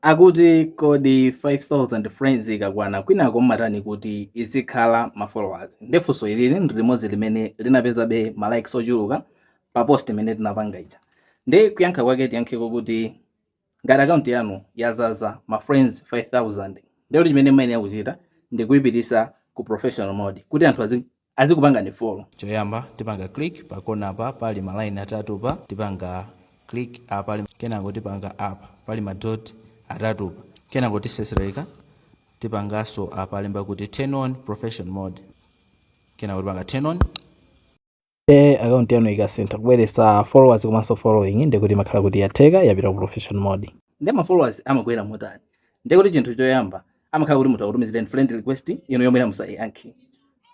Akuti kodi 5000 friends ikakwana kwinako mmatani kuti izikhala ma followers? Nde funso ili ndi limodzi limene linapezanso ma likes ochuluka pa post imene tinapanga ija. Nde kuyankha kwake tiyankheko kuti ngati account yanu yazaza ma friends 5000 nde chimene mmayenera kuchita ndikuipitisa ku professional mode kuti anthu azi. azikupangani follow. Choyamba tipanga click pa corner apa pali ma line atatupa, tipanga click apa kenako tipanga apa pali ma dot atatupa kenako tisesereka tipangaso apa alemba kuti turn on professional mode kenako tipanga turn on eh, account yanu ikasintha kubweresa followers komanso following nde kuti imakhala kuti yatheka yapita ku professional mode. nde ma followers amakwera motani nde kuti chinthu choyamba amakhala kuti munthu akutumizireni friend request inuyo musayankhe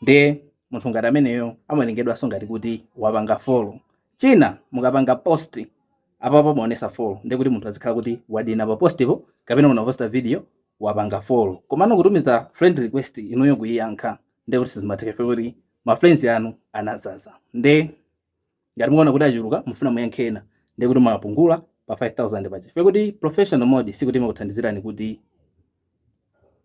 nde munthu ngati ameneyo amawerengedwanso ngati kuti wapanga follow china mukapanga post apapo amaonesa follow nde kuti munthu azikhala kuti wadina pa postipo kapena munaposta video wapanga follow komano kutumiza friend request inuyo nkuiyankha nde kuti sizimatheka kuti ma friends anu anazaza nde ngati mukuona kuti achuluka mufuna muyankhe ena ndiye kuti mwapungula pa 5000 pa chifukwa choti professional mode sikuti imakuthandizirani kuti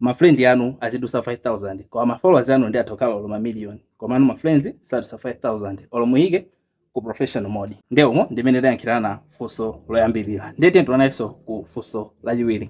mafrendi anu azidusa 5000 koma mafollowers anu ndi atha kukhala olo mamiliyoni komano mafriends sadusa 5000 olo muyike ku professional mode nde umo ndimene tayankhirana funso loyambirira ndiye tiyeni tionenso ku funso lachiwiri